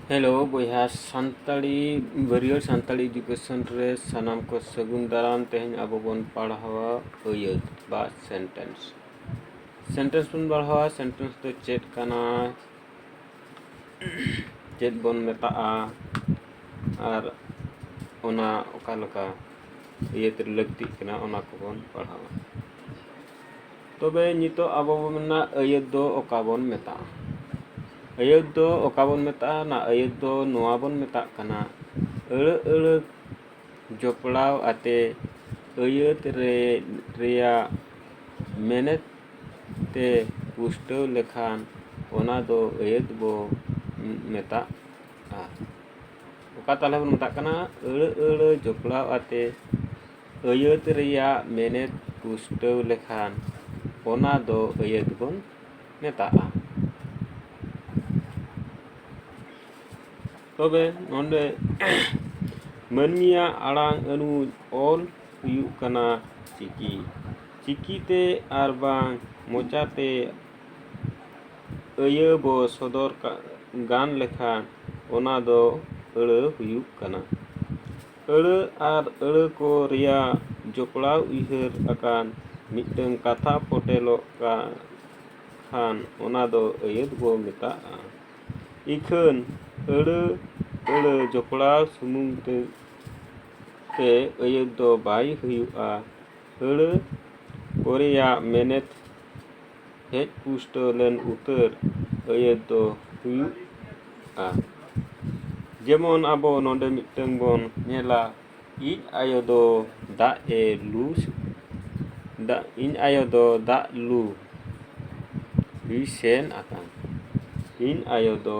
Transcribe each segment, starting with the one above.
Hello ᱵᱚᱭᱦᱟ ᱥᱟᱱᱛᱟᱲᱤ ᱵᱟᱹᱨᱭᱟᱹᱲ Santali education ᱨᱮ ᱥᱟᱱᱟᱢ ᱠᱚ ᱥᱟᱹᱜᱩᱱ ᱫᱟᱨᱟᱢ ᱛᱮᱦᱮᱧ ᱟᱵᱚ ᱵᱚᱱ ᱯᱟᱲᱦᱟᱣᱟ ᱟᱹᱭᱟᱹᱛ ᱵᱟ ᱥᱮᱱᱴᱮᱱᱥ ᱥᱮᱱᱴᱮᱱᱥ ᱵᱚᱱ ᱯᱟᱲᱦᱟᱣᱟ ᱥᱮᱱᱴᱮᱱᱥ ᱫᱚ ᱪᱮᱫ ᱠᱟᱱᱟ ᱪᱮᱫ ᱵᱚᱱ ᱢᱮᱛᱟᱜᱼᱟ ᱟᱨ ᱚᱱᱟ ᱚᱠᱟ ᱞᱮᱠᱟ ᱟᱹᱭᱟᱹᱛ ᱨᱮ ᱞᱟᱹᱠᱛᱤᱜ ᱠᱟᱱᱟ ᱚᱱᱟ ᱠᱚᱵᱚᱱ ᱯᱟᱲᱦᱟᱣᱟ ᱛᱚᱵᱮ ᱱᱤᱛᱚᱜ ᱟᱵᱚ ᱵᱚᱱ ᱢᱮᱱᱟ ᱟᱹᱭᱟᱹᱛ ᱫᱚ ᱚᱠᱟ ᱵᱚᱱ ᱢᱮᱛᱟᱜᱼᱟ ᱟᱹᱭᱟᱹᱛ ᱫᱚ ᱚᱠᱟ ᱵᱚᱱ ᱢᱮᱛᱟᱜᱼᱟ ᱚᱱᱟ ᱟᱹᱭᱟᱹᱛ ᱫᱚ ᱱᱚᱣᱟ ᱵᱚᱱ ᱢᱮᱛᱟᱜ ᱠᱟᱱᱟ ᱟᱹᱲᱟᱹ ᱟᱹᱲᱟᱹ ᱡᱚᱯᱲᱟᱣ ᱟᱛᱮ ᱟᱹᱭᱟᱹᱛ ᱨᱮ ᱨᱮᱭᱟᱜ ᱢᱮᱱᱮᱛ ᱛᱮ ᱯᱩᱥᱴᱟᱹᱣ ᱞᱮᱠᱷᱟᱱ ᱚᱱᱟ ᱫᱚ ᱟᱹᱭᱟᱹᱛ ᱵᱚ ᱢᱮᱛᱟᱜᱼᱟ ᱚᱠᱟ ᱛᱟᱦᱚᱞᱮ ᱵᱚᱱ ᱢᱮᱛᱟᱜ ᱠᱟᱱᱟ ᱟᱹᱲᱟᱹ ᱟᱹᱲᱟᱹ ᱡᱚᱯᱲᱟᱣ ᱟᱛᱮ ᱟᱹᱭᱟᱹᱛ ᱨᱮᱭᱟᱜ ᱢᱮᱱᱮᱛ ᱯᱩᱥᱴᱟᱹᱣ ᱞᱮᱠᱷᱟᱱ ᱚᱱᱟ ᱫᱚ ᱟᱹᱭᱟᱹᱛ ᱵᱚᱱ ᱢᱮᱛᱟᱜᱼᱟ ᱛᱚᱵᱮ ᱱᱚᱰᱮ ᱢᱟᱹᱱᱢᱤᱭᱟᱜ ᱟᱲᱟᱝ ᱟᱹᱱᱩᱡ ᱚᱞ ᱦᱩᱭᱩᱜ ᱠᱟᱱᱟ ᱪᱤᱠᱤ ᱪᱤᱠᱤᱛᱮ ᱟᱨ ᱵᱟᱝ ᱢᱚᱪᱟᱛᱮ ᱟᱹᱭᱟᱹ ᱵᱚ ᱥᱚᱫᱚᱨ ᱜᱟᱱ ᱞᱮᱠᱷᱟᱱ ᱚᱱᱟ ᱫᱚ ᱟᱹᱲᱟᱹ ᱦᱩᱭᱩᱜ ᱠᱟᱱᱟ ᱟᱹᱲᱟᱹ ᱟᱨ ᱟᱹᱲᱟᱹ ᱠᱚ ᱨᱮᱭᱟᱜ ᱡᱚᱯᱲᱟᱣ ᱩᱭᱦᱟᱹᱨ ᱟᱠᱟᱱ ᱢᱤᱫᱴᱟᱹᱝ ᱠᱟᱛᱷᱟ ᱯᱷᱚᱴᱮᱞᱚᱜ ᱠᱷᱟᱱ ᱚᱱᱟ ᱫᱚ ᱟᱹᱭᱟᱹᱛ ᱵᱚ ᱢᱮᱛᱟᱜᱼᱟ᱾ ᱤᱠᱷᱟᱹᱱ ᱟᱹᱲᱟᱹ ᱟᱹᱲᱟᱹ ᱡᱚᱯᱲᱟᱣ ᱥᱩᱢᱩᱝ ᱛᱮ ᱟᱹᱭᱟᱹᱛ ᱫᱚ ᱵᱟᱭ ᱦᱩᱭᱩᱜᱼᱟ᱾ ᱟᱹᱲᱟᱹ ᱠᱚᱨᱮᱭᱟᱜ ᱢᱮᱱᱮᱛ ᱦᱮᱡ ᱯᱩᱥᱴᱟᱹᱣ ᱞᱮᱱ ᱩᱛᱟᱹᱨ ᱟᱹᱭᱟᱹᱛ ᱫᱚ ᱦᱩᱭᱩᱜᱼᱟ᱾ ᱡᱮᱢᱚᱱ ᱟᱵᱚ ᱱᱚᱰᱮ ᱢᱤᱫᱴᱟᱹᱝ ᱵᱚᱱ ᱧᱮᱞᱟ ᱤᱧ ᱟᱭᱳ ᱫᱚ ᱫᱟᱜ ᱮ ᱞᱩ ᱤᱧ ᱟᱭᱳ ᱫᱚ ᱫᱟᱜ ᱞᱩ ᱮ ᱥᱮᱱ ᱟᱠᱟᱱ᱾ ᱤᱧ ᱟᱭᱳ ᱫᱚ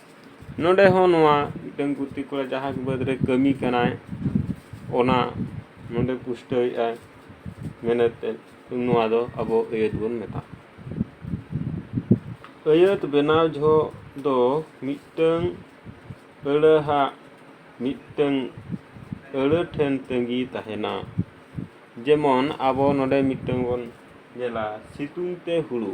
ᱱᱚᱸᱰᱮ ᱦᱚᱸ ᱱᱚᱣᱟ ᱢᱤᱫᱴᱟᱹᱝ ᱜᱩᱛᱤ ᱠᱚᱲᱟ ᱡᱟᱦᱟᱸ ᱵᱟᱹᱫᱽ ᱨᱮ ᱠᱟᱹᱢᱤ ᱠᱟᱱᱟᱭ ᱚᱱᱟ ᱱᱚᱸᱰᱮ ᱯᱩᱥᱴᱟᱹᱣᱮᱫᱼᱟᱭ ᱢᱮᱱᱮᱛᱮ ᱱᱚᱣᱟ ᱫᱚ ᱟᱵᱚ ᱟᱹᱭᱟᱹᱛ ᱵᱚᱱ ᱢᱮᱛᱟᱜᱼᱟ ᱟᱹᱭᱟᱹᱛ ᱵᱮᱱᱟᱣ ᱡᱚᱦᱚᱜ ᱫᱚ ᱢᱤᱫᱴᱟᱹᱝ ᱟᱹᱲᱟᱹ ᱦᱟᱜ ᱢᱤᱫᱴᱟᱹᱝ ᱟᱹᱲᱟᱹ ᱴᱷᱮᱱ ᱛᱟᱺᱜᱤ ᱛᱟᱦᱮᱱᱟ ᱡᱮᱢᱚᱱ ᱟᱵᱚ ᱱᱚᱸᱰᱮ ᱢᱤᱫᱴᱟᱹᱝ ᱵᱚᱱ ᱧᱮᱞᱟ ᱥᱤᱛᱩᱝ ᱛᱮ ᱦᱩᱲᱩ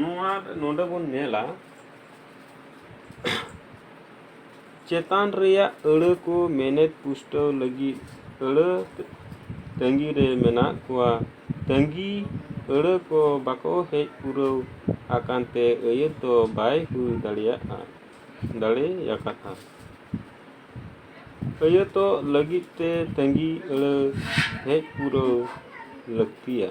ᱱᱚᱣᱟ ᱱᱚᱰᱮ ᱵᱚᱱ ᱧᱮᱞᱟ ᱪᱮᱛᱟᱱ ᱨᱮᱭᱟᱜ ᱟᱹᱲᱟᱹ ᱠᱚ ᱢᱮᱱᱮᱛ ᱯᱩᱥᱴᱟᱹᱣ ᱞᱟᱹᱜᱤᱫ ᱟᱹᱲᱟᱹ ᱛᱟᱺᱜᱤ ᱨᱮ ᱢᱮᱱᱟᱜ ᱠᱚᱣᱟ ᱛᱟᱺᱜᱤ ᱟᱹᱲᱟᱹ ᱠᱚ ᱵᱟᱠᱚ ᱦᱮᱡ ᱯᱩᱨᱟᱹᱣ ᱟᱠᱟᱱ ᱛᱮ ᱟᱹᱭᱟᱹᱛ ᱫᱚ ᱵᱟᱭ ᱦᱩᱭ ᱫᱟᱲᱮᱭᱟᱜᱼᱟ ᱫᱟᱲᱮᱭᱟᱠᱟᱫᱼᱟ ᱟᱹᱭᱟᱹᱛᱚᱜ ᱞᱟᱹᱜᱤᱫ ᱛᱮ ᱛᱟᱺᱜᱤ ᱟᱹᱲᱟᱹ ᱦᱮᱡ ᱯᱩᱨᱟᱹᱣ ᱞᱟᱹᱠᱛᱤᱭᱟ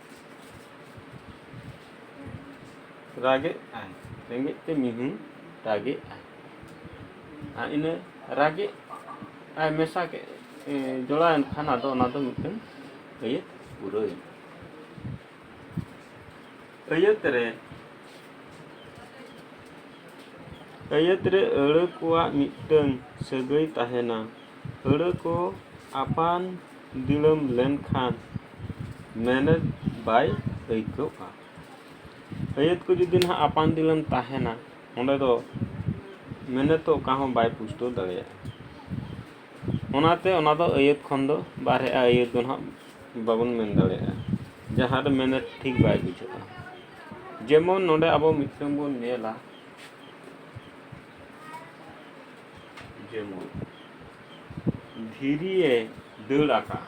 ᱨᱟᱜᱮᱫ ᱟᱭ ᱨᱮᱸᱜᱮᱡ ᱛᱮ ᱢᱤᱦᱩ ᱨᱟᱜᱮᱫ ᱟᱭ ᱟᱨ ᱤᱱᱟᱹ ᱨᱟᱜᱮᱫ ᱟᱭ ᱢᱮᱥᱟ ᱠᱮᱫ ᱡᱚᱲᱟᱣᱮᱱ ᱠᱷᱟᱱ ᱟᱫᱚ ᱚᱱᱟ ᱫᱚ ᱢᱤᱫᱴᱟᱝ ᱟᱹᱭᱟᱹᱛ ᱯᱩᱨᱟᱹᱣᱮᱱᱟ ᱟᱹᱭᱟᱹᱛ ᱨᱮ ᱟᱹᱭᱟᱹᱛ ᱨᱮ ᱟᱹᱲᱟᱹ ᱠᱚᱣᱟᱜ ᱢᱤᱫᱴᱟᱝ ᱥᱟᱹᱜᱟᱹᱭ ᱛᱟᱦᱮᱱᱟ ᱟᱹᱲᱟᱹ ᱠᱚ ᱟᱯᱟᱱ ᱫᱤᱲᱟᱹᱢ ᱞᱮᱱᱠᱷᱟᱱ ᱢᱮᱱᱮᱛ ᱵᱟᱭ ᱟᱹᱭᱠᱟᱹᱣᱜᱼᱟ ᱟᱹᱭᱟᱹᱛ ᱠᱚ ᱡᱩᱫᱤ ᱱᱟᱦᱟᱜ ᱟᱯᱟᱱ ᱫᱤᱞᱮᱢ ᱛᱟᱦᱮᱱᱟ ᱚᱸᱰᱮ ᱫᱚ ᱢᱮᱱᱮᱛ ᱫᱚ ᱚᱠᱟ ᱦᱚᱸ ᱵᱟᱭ ᱯᱩᱥᱴᱟᱹᱣ ᱫᱟᱲᱮᱭᱟᱜᱼᱟ ᱚᱱᱟᱛᱮ ᱚᱱᱟ ᱫᱚ ᱟᱹᱭᱟᱹᱛ ᱠᱷᱚᱱ ᱫᱚ ᱵᱟᱨᱦᱮᱜᱼᱟ ᱟᱹᱭᱟᱹᱛ ᱫᱚ ᱱᱟᱦᱟᱜ ᱵᱟᱵᱚᱱ ᱢᱮᱱ ᱫᱟᱲᱮᱭᱟᱜᱼᱟ ᱡᱟᱦᱟᱸ ᱨᱮ ᱢᱮᱱᱮᱛ ᱴᱷᱤᱠ ᱵᱟᱭ ᱵᱩᱡᱷᱟᱹᱜᱼᱟ ᱡᱮᱢᱚᱱ ᱱᱚᱰᱮ ᱟᱵᱚ ᱢᱤᱫᱴᱟᱝ ᱵᱚᱱ ᱧᱮᱞᱟ ᱡᱮᱢᱚᱱ ᱫᱷᱤᱨᱤᱭᱮ ᱫᱟᱹᱲ ᱟᱠᱟᱫᱼᱟ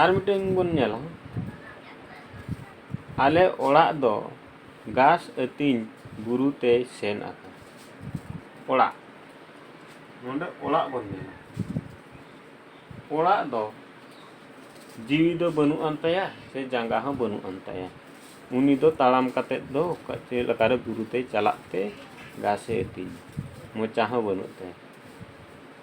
ᱟᱨ ᱢᱤᱫᱴᱮᱱ ᱵᱚᱱ ᱧᱮᱞᱟ ᱟᱞᱮ ᱚᱲᱟᱜ ᱫᱚ ᱜᱷᱟᱥ ᱟᱹᱛᱤᱧ ᱵᱩᱨᱩ ᱛᱮᱭ ᱥᱮᱱ ᱟᱠᱟᱱᱟ ᱚᱲᱟᱜ ᱱᱚᱰᱮ ᱚᱲᱟᱜ ᱵᱚᱱ ᱧᱮᱞᱟ ᱚᱲᱟᱜ ᱫᱚ ᱡᱤᱣᱤ ᱫᱚ ᱵᱟᱹᱱᱩᱜ ᱟᱱ ᱛᱟᱭᱟ ᱥᱮ ᱡᱟᱸᱜᱟ ᱦᱚᱸ ᱵᱟᱹᱱᱩᱜ ᱟᱱ ᱛᱟᱭᱟ ᱩᱱᱤ ᱫᱚ ᱛᱟᱲᱟᱢ ᱠᱟᱛᱮ ᱫᱚ ᱚᱠᱟ ᱪᱮᱫ ᱞᱮᱠᱟᱨᱮ ᱵᱩᱨᱩ ᱛᱮᱭ ᱪᱟᱞᱟᱜ ᱛᱮ ᱜᱷᱟᱥᱮ ᱟᱹᱛᱤᱧᱟ ᱢᱚᱪᱟ ᱦᱚᱸ ᱵᱟᱹᱱᱩᱜ ᱛᱟᱭᱟ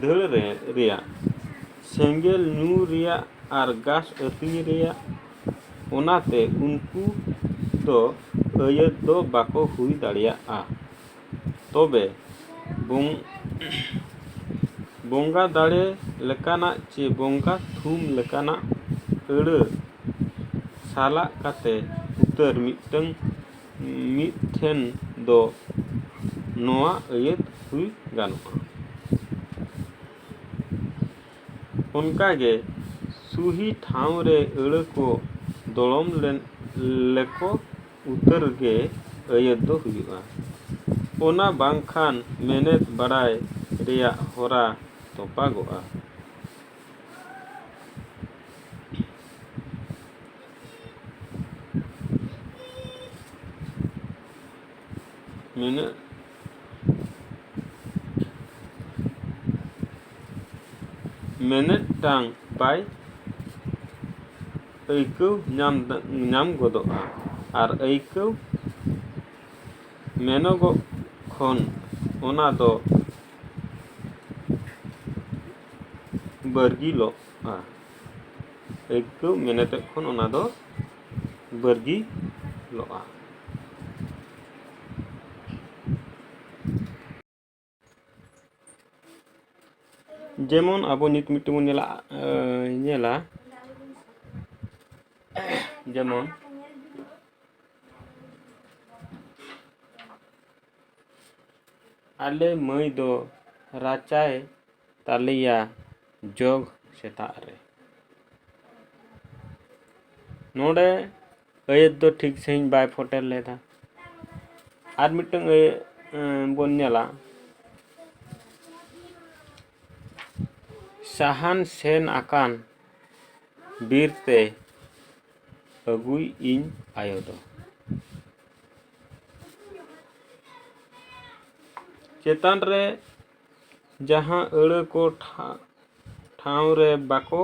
ᱫᱷᱟᱹᱲ ᱨᱮ ᱨᱮᱭᱟᱜ ᱥᱮᱸᱜᱮᱞ ᱧᱩ ᱨᱮᱭᱟᱜ ᱟᱨ ᱜᱟᱥ ᱟᱹᱛᱤᱧ ᱨᱮᱭᱟᱜ ᱚᱱᱟᱛᱮ ᱩᱱᱠᱩ ᱫᱚ ᱟᱹᱭᱟᱹᱛ ᱫᱚ ᱵᱟᱠᱚ ᱦᱩᱭ ᱫᱟᱲᱮᱭᱟᱜᱼᱟ ᱛᱚᱵᱮ ᱵᱚᱝ ᱵᱚᱸᱜᱟ ᱫᱟᱲᱮ ᱞᱮᱠᱟᱱᱟᱜ ᱪᱮ ᱵᱚᱸᱜᱟ ᱛᱷᱩᱢ ᱞᱮᱠᱟᱱᱟᱜ ᱟᱹᱲᱟᱹ ᱥᱟᱞᱟᱜ ᱠᱟᱛᱮᱫ ᱩᱛᱟᱹᱨ ᱢᱤᱫᱴᱟᱹᱝ ᱢᱤᱫ ᱴᱷᱮᱱ ᱫᱚ ᱱᱚᱣᱟ ᱟᱹᱭᱟᱹᱛ ᱦᱩᱭ ᱜᱟᱱᱚᱜᱼᱟ᱾ ᱚᱱᱠᱟ ᱜᱮ ᱥᱩᱦᱤ ᱴᱷᱟᱶ ᱨᱮ ᱟᱹᱲᱟᱹ ᱠᱚ ᱫᱚᱲᱚᱢ ᱞᱮᱱ ᱞᱮᱠᱚ ᱩᱛᱟᱹᱨ ᱜᱮ ᱟᱹᱭᱟᱹᱛ ᱫᱚ ᱦᱩᱭᱩᱜᱼᱟ᱾ ᱚᱱᱟ ᱵᱟᱝ ᱠᱷᱟᱱ ᱢᱮᱱᱮᱛ ᱵᱟᱰᱟᱭ ᱨᱮᱭᱟᱜ ᱦᱚᱨᱟ ᱛᱚᱯᱟᱜᱚᱜᱼᱟ᱾ ᱱᱩᱱᱟᱹᱜ ᱢᱮᱱᱮᱫ ᱴᱟᱝ ᱵᱟᱭ ᱟᱹᱭᱠᱟᱹᱣ ᱧᱟᱢ ᱧᱟᱢ ᱜᱚᱫᱚᱜᱼᱟ ᱟᱨ ᱟᱹᱭᱠᱟᱹᱣ ᱢᱮᱱᱚᱜᱚᱜ ᱠᱷᱚᱱ ᱚᱱᱟ ᱫᱚ ᱵᱟᱹᱨᱜᱤᱞᱚᱜᱼᱟ ᱟᱹᱭᱠᱟᱹᱣ ᱢᱮᱱᱮᱛᱮᱫ ᱠᱷᱚᱱ ᱚᱱᱟ ᱫᱚ ᱵᱟᱹᱨᱜᱤᱞᱚᱜᱼᱟ ᱡᱮᱢᱚᱱ ᱟᱵᱚ ᱱᱤᱛ ᱢᱤᱫᱴᱮᱱ ᱵᱚᱱ ᱧᱮᱞᱟ ᱧᱮᱞᱟ ᱡᱮᱢᱚᱱ ᱟᱞᱮ ᱢᱟᱹᱭ ᱫᱚ ᱨᱟᱪᱟᱭ ᱫᱟᱞᱮᱭᱟ ᱡᱚᱜᱽ ᱥᱮᱛᱟᱜ ᱨᱮ ᱱᱚᱰᱮ ᱟᱹᱭᱟᱹᱛ ᱫᱚ ᱴᱷᱤᱠ ᱥᱟᱺᱦᱤᱡ ᱵᱟᱭ ᱯᱷᱳᱴᱮᱞ ᱞᱮᱫᱟ ᱟᱨ ᱢᱤᱫᱴᱟᱝ ᱟᱹᱭᱟᱹᱛ ᱵᱚᱱ ᱧᱮᱞᱟ ᱥᱟᱦᱟᱱ ᱥᱮᱱ ᱟᱠᱟᱱ ᱵᱤᱨ ᱛᱮ ᱟᱹᱜᱩᱭᱤᱡ ᱤᱧ ᱟᱭᱳ ᱫᱚ ᱪᱮᱛᱟᱱ ᱨᱮ ᱡᱟᱦᱟᱸ ᱟᱹᱲᱟᱹ ᱠᱚ ᱴᱷᱟᱶ ᱨᱮ ᱵᱟᱠᱚ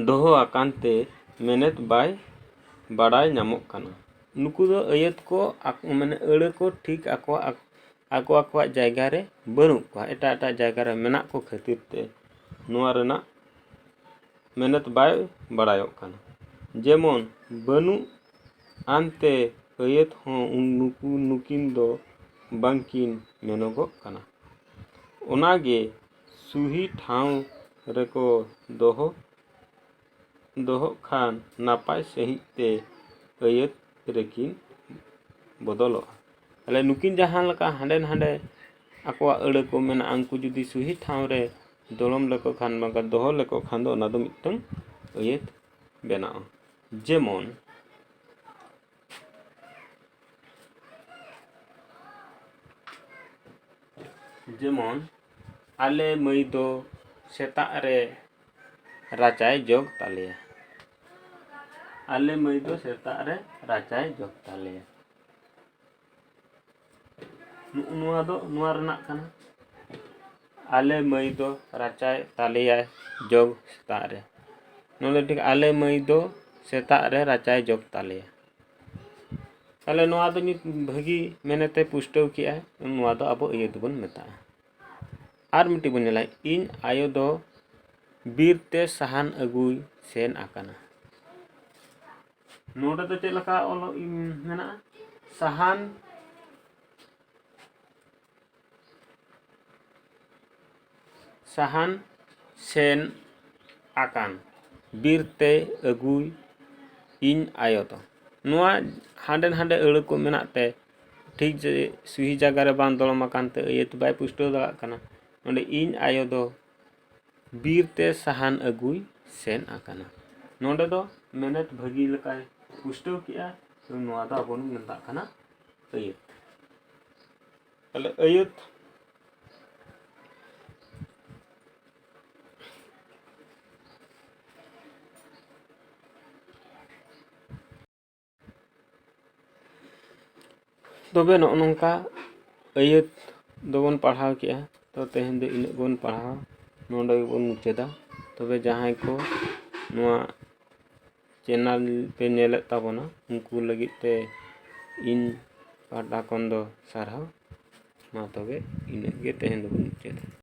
ᱫᱚᱦᱚ ᱟᱠᱟᱱ ᱛᱮ ᱢᱮᱱᱮᱛ ᱵᱟᱭ ᱵᱟᱰᱟᱭ ᱧᱟᱢᱚᱜ ᱠᱟᱱᱟ ᱱᱩᱠᱩ ᱫᱚ ᱟᱹᱭᱟᱹᱛ ᱠᱚ ᱢᱟᱱᱮ ᱟᱹᱲᱟᱹ ᱠᱚ ᱴᱷᱤᱠ ᱟᱠᱚᱣᱟᱜ ᱟᱠᱚ ᱟᱠᱚᱣᱟᱜ ᱡᱟᱭᱜᱟ ᱨᱮ ᱵᱟᱹᱱᱩᱜ ᱠᱚᱣᱟ ᱮᱴᱟᱜ ᱮᱴᱟᱜ ᱡᱟᱭᱜᱟ ᱨᱮ ᱢᱮᱱᱟᱜ ᱠᱚ ᱠᱷᱟᱹᱛᱤᱨ ᱛᱮ ᱱᱚᱣᱟ ᱨᱮᱱᱟᱜ ᱢᱮᱱᱮᱛ ᱵᱟᱭ ᱵᱟᱲᱟᱭᱚᱜ ᱠᱟᱱᱟ ᱡᱮᱢᱚᱱ ᱵᱟᱹᱱᱩᱜ ᱟᱱᱛᱮ ᱟᱹᱭᱟᱹᱛ ᱦᱚᱸ ᱱᱩᱠᱩ ᱱᱩᱠᱤᱱ ᱫᱚ ᱵᱟᱝ ᱠᱤᱱ ᱢᱮᱱᱚᱜᱚᱜ ᱠᱟᱱᱟ ᱚᱱᱟ ᱜᱮ ᱥᱩᱦᱤ ᱴᱷᱟᱶ ᱨᱮᱠᱚ ᱫᱚᱦᱚ ᱫᱚᱦᱚᱜ ᱠᱷᱟᱱ ᱱᱟᱯᱟᱭ ᱥᱟᱺᱦᱤᱡ ᱛᱮ ᱟᱹᱭᱟᱹᱛ ᱨᱮᱠᱤᱱ ᱵᱚᱫᱚᱞᱚᱜᱼᱟ ᱛᱟᱦᱚᱞᱮ ᱱᱩᱠᱤᱱ ᱡᱟᱦᱟᱸ ᱞᱮᱠᱟ ᱦᱟᱸᱰᱮ ᱱᱷᱟᱰᱮ ᱟᱠᱚᱣᱟᱜ ᱟᱹᱲᱟᱹ ᱠᱚ ᱢᱮᱱᱟᱜᱼᱟ ᱩᱱᱠᱩ ᱡᱩᱫᱤ ᱥᱩᱦᱤ ᱴᱷᱟᱶ ᱨᱮ ᱫᱚᱲᱚᱢ ᱞᱮᱠᱚ ᱠᱷᱟᱱ ᱵᱟᱝᱠᱷᱟᱱ ᱫᱚᱦᱚ ᱞᱮᱠᱚ ᱠᱷᱟᱱ ᱫᱚ ᱚᱱᱟ ᱫᱚ ᱢᱤᱫᱴᱟᱹᱝ ᱟᱹᱭᱟᱹᱛ ᱵᱮᱱᱟᱜᱼᱟ ᱡᱮᱢᱚᱱ ᱡᱮᱢᱚᱱ ᱟᱞᱮ ᱢᱟᱹᱭ ᱫᱚ ᱥᱮᱛᱟᱜ ᱨᱮ ᱨᱟᱪᱟᱭ ᱡᱚᱜᱽ ᱛᱟᱞᱮᱭᱟ ᱟᱞᱮ ᱢᱟᱹᱭ ᱫᱚ ᱥᱮᱛᱟᱜ ᱨᱮ ᱨᱟᱪᱟᱭ ᱡᱚᱜᱽ ᱛᱟᱞᱮᱭᱟ ᱱᱚᱜᱼᱚ ᱱᱚᱣᱟ ᱫᱚ ᱱᱚᱣᱟ ᱨᱮᱱᱟᱜ ᱠᱟᱱᱟ ᱟᱞᱮ ᱢᱟᱹᱭ ᱫᱚ ᱨᱟᱪᱟᱭ ᱫᱟᱞᱮᱭᱟᱭ ᱡᱚᱜᱽ ᱥᱮᱛᱟᱜ ᱨᱮ ᱱᱚᱸᱰᱮ ᱴᱷᱤᱠ ᱟᱞᱮ ᱢᱟᱹᱭ ᱫᱚ ᱥᱮᱛᱟᱜ ᱨᱮ ᱨᱟᱪᱟᱭ ᱡᱚᱜᱽ ᱛᱟᱞᱮᱭᱟ ᱛᱟᱦᱚᱞᱮ ᱱᱚᱣᱟ ᱫᱚ ᱢᱤᱫ ᱵᱷᱟᱹᱜᱤ ᱢᱮᱱᱮᱛᱮ ᱯᱩᱥᱴᱟᱹᱣ ᱠᱮᱜᱼᱟᱭ ᱱᱚᱣᱟ ᱫᱚ ᱟᱵᱚ ᱤᱭᱟᱹ ᱫᱚᱵᱚᱱ ᱢᱮᱛᱟᱜᱼᱟ ᱟᱨ ᱢᱤᱫᱴᱤᱡ ᱵᱚᱱ ᱧᱮᱞᱟ ᱤᱧ ᱟᱭᱳ ᱫᱚ ᱵᱤᱨ ᱛᱮ ᱥᱟᱦᱟᱱ ᱟᱹᱜᱩᱭ ᱥᱮᱱ ᱟᱠᱟᱱᱟ ᱱᱚᱰᱮ ᱫᱚ ᱪᱮᱫ ᱞᱮᱠᱟ ᱚᱞ ᱢᱮᱱᱟᱜᱼᱟ ᱥᱟᱦᱟᱱ ᱥᱟᱦᱟᱱ ᱥᱮᱱ ᱟᱠᱟᱱ ᱵᱤᱨ ᱛᱮ ᱟᱹᱜᱩᱭ ᱤᱧ ᱟᱭᱳ ᱫᱚ ᱱᱚᱣᱟ ᱦᱟᱸᱰᱮ ᱱᱟᱰᱮ ᱟᱹᱲᱟᱹ ᱠᱚ ᱢᱮᱱᱟᱜ ᱛᱮ ᱴᱷᱤᱠ ᱡᱮ ᱥᱩᱦᱤ ᱡᱟᱭᱜᱟ ᱨᱮ ᱵᱟᱝ ᱫᱚᱲᱚᱢ ᱟᱠᱟᱱ ᱛᱮ ᱟᱹᱭᱟᱹᱛ ᱵᱟᱭ ᱯᱩᱥᱴᱟᱹᱣ ᱫᱟᱲᱮᱭᱟᱜ ᱠᱟᱱᱟ ᱚᱸᱰᱮ ᱤᱧ ᱟᱭᱳ ᱫᱚ ᱵᱤᱨ ᱛᱮ ᱥᱟᱦᱟᱱ ᱟᱹᱜᱩᱭ ᱥᱮᱱ ᱟᱠᱟᱱᱟ ᱱᱚᱰᱮ ᱫᱚ ᱢᱮᱱᱮᱛ ᱵᱷᱟᱹᱜᱤ ᱞᱮᱠᱟᱭ ᱯᱩᱥᱴᱟᱹᱣ ᱠᱮᱜᱼᱟ ᱱᱚᱣᱟ ᱫᱚ ᱟᱵᱚ ᱵᱚᱱ ᱢᱮᱛᱟᱜ ᱠᱟᱱᱟ ᱟᱹᱭᱟᱹᱛ ᱛᱟᱦᱞᱮ ᱟᱹᱭᱟᱹᱛ ᱛᱚᱵᱮ ᱱᱚᱜᱼᱚ ᱱᱚᱝᱠᱟ ᱟᱹᱭᱟᱹᱛ ᱫᱚᱵᱚᱱ ᱯᱟᱲᱦᱟᱣ ᱠᱮᱜᱼᱟ ᱛᱚ ᱛᱮᱦᱮᱧ ᱫᱚ ᱤᱱᱟᱹᱜ ᱵᱚᱱ ᱯᱟᱲᱦᱟᱣᱟ ᱱᱚᱰᱮ ᱜᱮᱵᱚᱱ ᱢᱩᱪᱟᱹᱫᱟ ᱛᱚᱵᱮ ᱡᱟᱦᱟᱸᱭ ᱠᱚ ᱱᱚᱣᱟ ᱪᱮᱱᱮᱞ ᱯᱮ ᱧᱮᱞᱮᱫ ᱛᱟᱵᱚᱱᱟ ᱩᱱᱠᱩ ᱞᱟᱹᱜᱤᱫ ᱛᱮ ᱤᱧ ᱯᱟᱦᱴᱟ ᱠᱷᱚᱱ ᱫᱚ ᱥᱟᱨᱦᱟᱣ ᱢᱟ ᱛᱚᱵᱮ ᱤᱱᱟᱹᱜ ᱜᱮ ᱛᱮᱦᱮᱧ ᱫᱚᱵᱚᱱ ᱢᱩᱪᱟᱹᱫᱟ